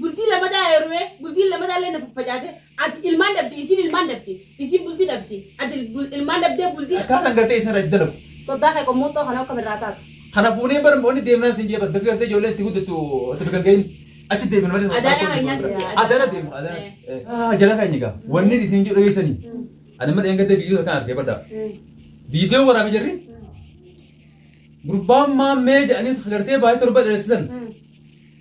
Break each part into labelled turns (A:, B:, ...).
A: bultii lamadaa heerumee bultiin lamadaa illee na faffacaate ati ilmaan dhabde isin ilmaan dhabde isin bultii dhabde ati bul- ilmaan dhabdee bultii Akkaataan gartee isaan irratti
B: dalagu. soddaa kee qommuuxxoo
C: kana akka mirraa taatu Kana fuunee bara
B: moonni deemnaan siin jee bakka gartee ijoollee itti guddattu itti biqilga'in achi deemin malee. Adaana kan nyaatu. Adaana deemu adaana. Eh. Ah jala kan nyaga. Wanni isin jedhu dhageessanii. Ani mana eeggatee biyyoo kan argee baddaa. Biyyoo waraabee jirri. Gurbaan maammee jedhanii gartee baay'ee torba dheeressisan.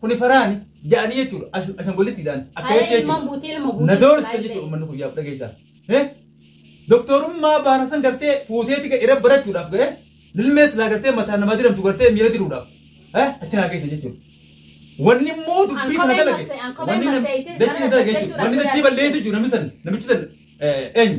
B: Kuni faraani ja'anii jechuudha. Ash- Ashangolitti ja'an. Haya Akkamitti ilmaan jechuudha. buutee ilma
C: buutee. Na doorsa Baay'ee. jechuudha uummanni
B: kun yaaf dhageessaa. Eh? Doktorummaa baana san gartee fuuteeti ga irra barachuudhaaf ga'e. Lilmees laa gartee mataa namaa diramtu gartee miira diruudhaaf. Eh? Achi naa geessa jechuudha. Wanni immoo dubbii kana Ankobee dalage. massee- ankobee Wanni nam- masseessee dachii sana dalage jechuudha. hojjechuudhaaf Wanni dachii balleessu jechuudha namni san. Namichi san eh, eenyu?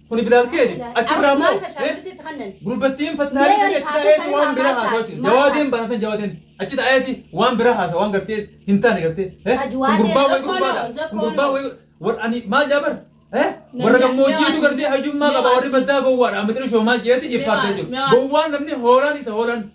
B: Kuni bilaal keeti. Achirraa immoo gurbattiin fattaalee ta'e achi taa'eeti waan biraa haasawati. Jawaadeen baafan jawaadeen. Achi taa'eeti waan biraa haasawa waan gartee hin taane gartee. Kun gurbaa wayii gurbaadha. Kun gurbaa wayii warra ani maal jaabar? Warra gammoojjiitu gartee hajummaa qaba warri baddaa gowwaadha. Amitri shoomaa jeeti iffaartee jiru. Gowwaan namni hoolaan isa hoolaan.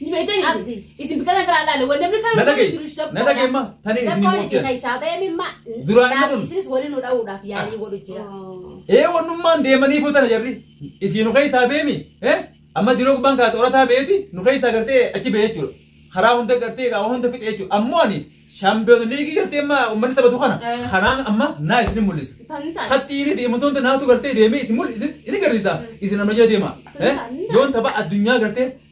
A: Ni beektan Abdi. isin biqilaa biraa laale wanni namni kan Na dhaga'i. jiru tokko Na dhaga'i ma.
B: Tani isin Rakkoon itti himuu keessaa ba'e
C: mimma Duraan inni kun- isinis
B: waliin nu dha'uudhaaf
C: yaalii godhu jira. Ee wannummaan
B: deemanii fuutana jarri. Ifi nu keessaa beemi. Ee amma diroo gubbaan kaate orataa beeti nu keessaa gartee achi bee jechuudha. Karaa hunda gartee qaama hunda fixe jechuudha. Ammoo ani shaampiyoon liigii gartee amma uummanni taphatu kana. Eh. Kanaan amma naa isin mul'isa. Tamni taate. Hatti inni deemtoota naatu gartee deemee isin mul'isa isin garsiisa isin amma jala deema. Eh? Yoon tapha addunyaa gartee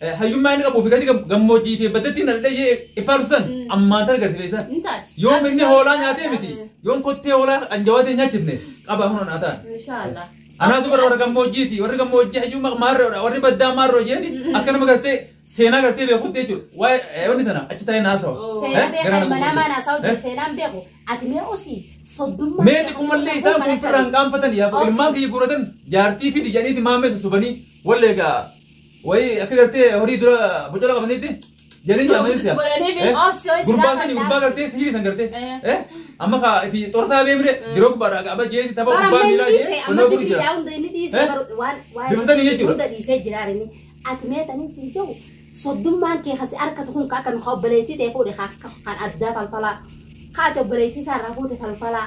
B: Eh, Hayyummaa inni qabuu fi gadi gam- gammoojjii fi baddatti na dhadhee jee faarsu san ammaan tana gadi beesan. Ni taati. Yoom inni hoolaa nyaatee miti. Yoom
A: kottee
B: hoolaa kan jawaatee nyaachifne qaba hunoon haa ta'an. Inshaallah. Anaatu bara warra gammoojjiiti. Warri gammoojjii hayyummaa maarroodha. Warri baddaa maarroo jeeni akka nama gartee seenaa gartee beekutti jechuudha. Waa'ee eh, wanni sana achi taa'ee naasawa. Oh. Eh, Seenaa beeku, garaa na manaa
C: gubbate. maanaa saawutti Eh? seenaan beeku. Ati mee osii soddummaa. Mee xiqqummallee
B: isaan kun firraan qaanfatan yaa Obsi. ilmaan kiyya guuratan jaartii fi dijaniiti maamee susubanii wallee egaa Wayi akka gartee horii dura bocola qabanitti jedhanii jaamanii si'a. Godhanii fi obsi ho'i Gurbaan sani gurbaa gartee sihirii san gartee. Eh. Amma kaa itti xorsaa beemre diroo gubbaadhaa ga'aba jeeti tapha Bara gubbaa miilaa meeqa jee dhiise qonnoo amma gurri jira. sibiilaa hunda
C: inni dhiise Eh? baru- waan waan Bifa sanii
B: jechuudha. hunda dhiisee jiraarini
C: ati meetanii siin jiru soddummaan kee kasi harkatu kun akka nu obboleettii ta'e fuudhe ka- ka- kan addaa falfalaa ka ati obboleettii isaa irraa fuute falfalaa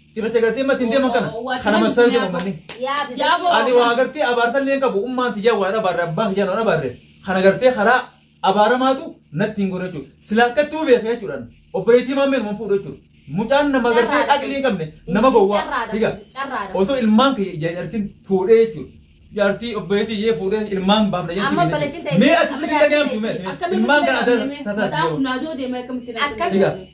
B: Cirracha gartee matti hin deeman kana. Kana masaa jedhu manni. Ani waa gartee abaartallee hin qabu. Ummaan tiyyaa waa dhabaarre abbaan tiyyaa waa dhabaarre. Kana gartee karaa abaaramaatu natti hin godhu jechuudha. Silaa akkatti hubee fi jechuudhaan obboleettii maammeen waan fuudhu jechuudha. Mucaan nama gartee aqlii hin qabne nama gowwaa. Dhiga. Osoo ilmaan kee jaartiin fuudhee jechuudha. Jaartii obboleettii iyyee fuudhee ilmaan baafna jechuudha. Amma obboleettiin ta'e- Mee asirratti dhagahamtu mee. Ilmaan kana adda tataa. Akkamitti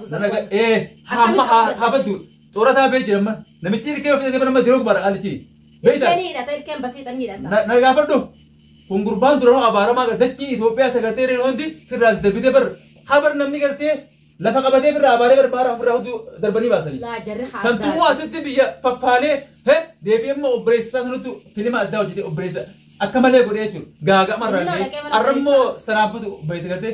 C: Nanaga ee
B: hamma habatu xoorataa bee jedhama namichi ilkee ofii dhagee nama diroo bara alichi. Beektaa? Ilkeen hidhata ilkeen basiidhan
C: hidhata. Na na gaafadhu
B: kun gurbaan duranoo abaaramaa gara dachii Itoophiyaa sagartee reeru hundi firraas darbitee bar habar namni gartee lafa qabatee firraa abaaree bar baara ofirraa hudduu darbanii baasanii. Laa jarri haa Santumuu
C: addaa. asitti biyya
B: faffaalee he deebi'ee immoo obboleessa sanattu filima addaa hojjetee obboleessa akka malee godhee jechuudha. Gaaga'ama irraa Filima dhaqee mana arrammoo saraabatu obboleessa gartee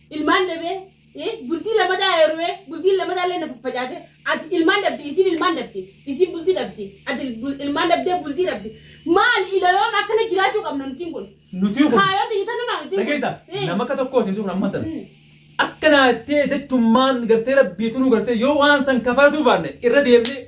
A: ilmaan dhabee eh, bultii lamadaa heerumee bultiin lamadaa illee na faffacaate ati ilmaan dhabde isiin ilmaan dhabde isiin bultii dhabde ati bul- ilmaan dhabdee bultii dhabde maal ilayoom akkana jiraachuu qabna nutiin kun Nuti kun kaayota
B: jitanumaa nutiin kun
A: dhageessa Eh, nama akka tokkooti
B: hin turre amma tan. mm, Akka naattee jechummaan gartee rabbiitu nu gartee yoo waan san kafartuu baanne irra deemnee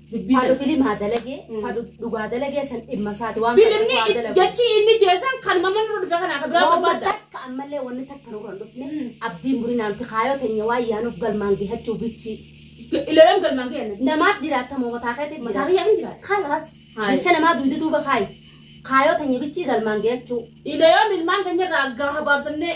A: Dubbii Fadu sana. filimaa
C: dalagee, Mm. fadu dhugaa dalagee san dhimma isaati waan fedheef waa Filimni dalagu. jechi
A: inni jeesan kan mamman irra dhufe kanaa kan biraa Waan barbaadda. takka ammallee wanni
C: takka nurra hin dhufne Mm. abdiin burinaan fi kaayoo teenya waan yaanuuf galmaan gahachuu bichi. Ilaalam galmaan
A: kee annabi. Namaaf jiraattamoo mataa
C: keetiif Mataa jiraata. kiyyaa hin
A: jiraata. Kalas Haay. jecha
C: namaa duuda duuba kaayi. Kaayoo teenya bichi galmaan gahachuu. Ilaalam ilmaan
A: keenya irraa gahaa baabsannee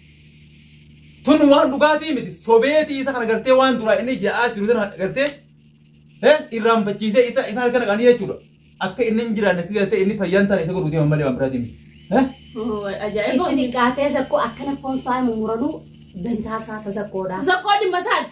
B: Tun waan dhugaatii miti. Sobeetii isa kana gartee waan duraa inni ja'aa jiru sana gartee eh, irraanfachiisee isa isa harka naqanii jechuudha. Akka inni hin jiraanne fi gartee inni fayyaan taane isa godhuuti malee waan biraatiin miti. Eh?
C: Ajaa'iba. Itti xiqqaatee zakkoo akkana foon isaa muranuu dantaa isaa ta zakkoodha. Zakkoo dhimma isaati.